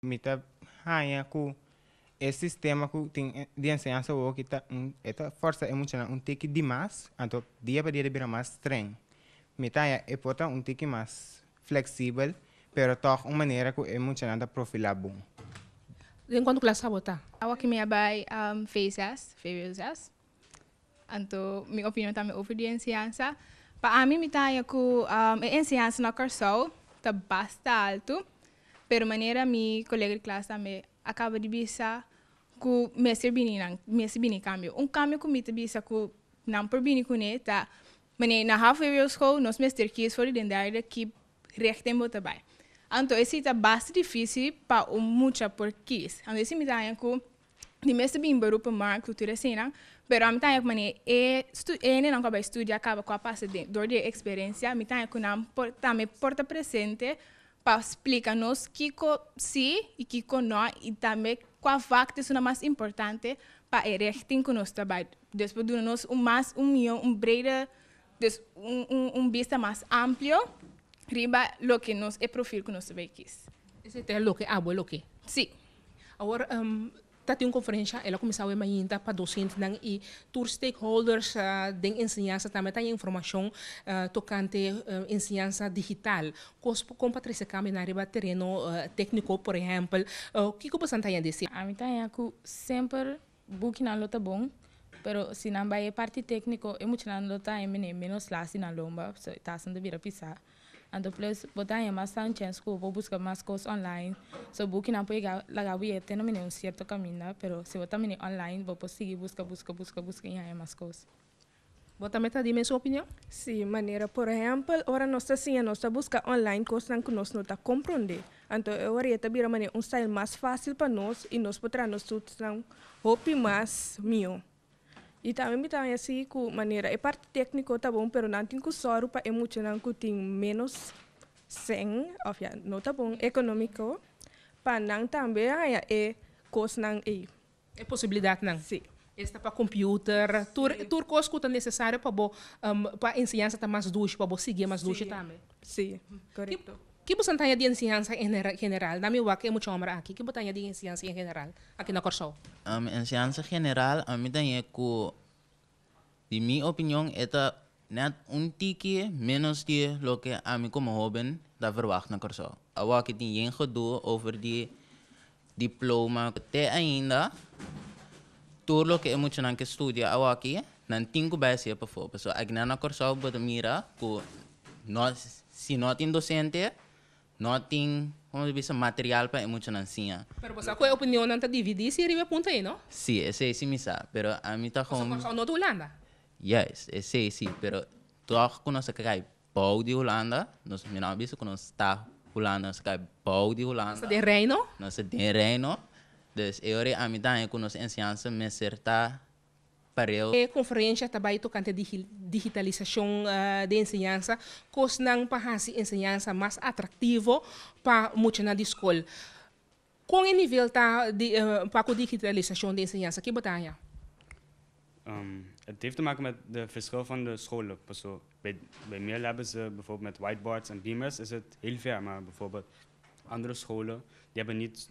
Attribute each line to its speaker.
Speaker 1: Mi ta haña ku e sistema ku tin di enseñansa wowo aki ta un e ta fòrsa e muchanan un tiki dimas, anto dia pa dia ta bira mas strèng. Mi ta haña e por ta un tiki mas fleksibel, pero tòg un manera ku e muchanan ta profilá bon. Den
Speaker 2: kuantu klas abo ta? Awor ki mi a bai
Speaker 3: Feesjas, Ferieujas. Anto mi opinion tambe over di enseñansa. Pa ami mi ta haña ku e enseñansa na Kòrsou ta basta altu. Pero manera mi kolega di klas tambe a kaba di bisa ku mester bini nan mester bini kambio. Un kambio ku mi ta bisa ku nan por bini kuné ta wanneer na half way school nos mester kies for di den derde ki rèkten bo ta bai. Anto e si ta basta difísil pa un mucha por kies. Anto e si mi ta haña ku di mes ta bini beroep en markt tutu reseñanan pero ami ta haña cu manera e stu e hendenan cu a bai studia caba cu a pasa den dor di e experencia mi ta haña cu nan por tambe por ta presente pa splica nos kico si y kico no y tambe cua facto esun a mas importante pa e richting cu nos ta bai dus por duna nos un mas un mio un breder dus un un un bista mas amplio riba loke nos e profil cu nos ta bai kies. Ese ta loke
Speaker 2: abo loke? Si.
Speaker 3: Awor
Speaker 2: ta tin un konferensha, el a kuminsá awe mainta pa dosientenan i tur stakeholders den enseñansa tambe ta haña informashon tokante enseñansa digital. Kos ku kon pa trese kambio na riba tereno tékniko, por ehèmpel, kiko boso nan ta haña di esei? Ami ta haña ku
Speaker 4: semper Bukinan lo ta bon, pero si nan bai e parti tékniko e muchanan lo ta haña mene ménos lasi na lomba, pasobra e tasa no ta bira pisá. Anto plus bo ta haña mas tanchens ku bo buska mas kos online. So bukinan por yega laga bo yei te na mene un sierto kaminda, pero si bo ta mene online bo por sigui buska, buska, buska, buska i haña mas kos. Bo tambe
Speaker 2: ta di mesun opinion? Sí, manera
Speaker 5: por ehèmpel, ora nos ta siña nos ta buska online kosnan ku nos no ta komprondé, anto e ora ya ta bira manera un style mas fásil pa nos i nos por traha nos tutsnan hopi mas mihó. I tambe mi ta haña sí ku manera e parti tékniko ta bon, pero nan tin ku sòru pa e muchanan ku tin ménos sèn, òf ya no ta bon ekonómiko, pa nan tambe haña e kosnan ei. E
Speaker 2: posibilidadnan esta pa
Speaker 5: computer,
Speaker 2: tur tur cos cu ta necesario pa bo pa enseñansa ta mas dushi, pa bo sigui mas dushi tambe. Si, correcto.
Speaker 5: Ki bo san taña di
Speaker 2: enseñansa en general? Dami wak e mucha homber aki. Ki bo taña di enseñansa en general aki na Corsou? Enseñansa
Speaker 6: general ami ta ñe cu. Di mi opinion e ta nèt un tiki ménos di loke ami komo hóben ta verwagt na Kòrsou. Awor ke tin yen gedoe over di diploma, te ainda tur loke e muchanan ke studia awor aki nan tin ku bai hasié pa for. Pasobra akinan na Kòrsou bo ta mira ku no si no tin dosente No tin, como se bisa, material pa e muchanan siña. Pero bo sa cu e opinionnan
Speaker 2: ta dividí si riba e punto ei, no? Sí, esei sí mi sa,
Speaker 6: pero ami ta con. Nos a Corsou, no ta Hulanda.
Speaker 2: Juist, esei
Speaker 6: sí, pero tog cu nos a cay bao di Hulanda, nos mi no a bisa cu nos ta Hulanda, nos a cay bao di Hulanda. Nos ta den Reino. Nos
Speaker 2: ta den Reino,
Speaker 6: dus e ora ei ami ta haña cu nos enseñansa mester ta. Parel. E konferensia ta bai
Speaker 2: tokante di digitalisashon den enseñansa, kosnan pa hasi enseñansa mas atraktivo pa muchanan di skol. Kon e nivel ta pa ku digitalisashon den enseñansa? Ke bo ta haña?
Speaker 7: Het heeft te maken met de verschil van de scholen. Paso bij Mil hebben ze bijvoorbeeld met whiteboards en beamers is het heel ver, maar bijvoorbeeld andere scholen die hebben niet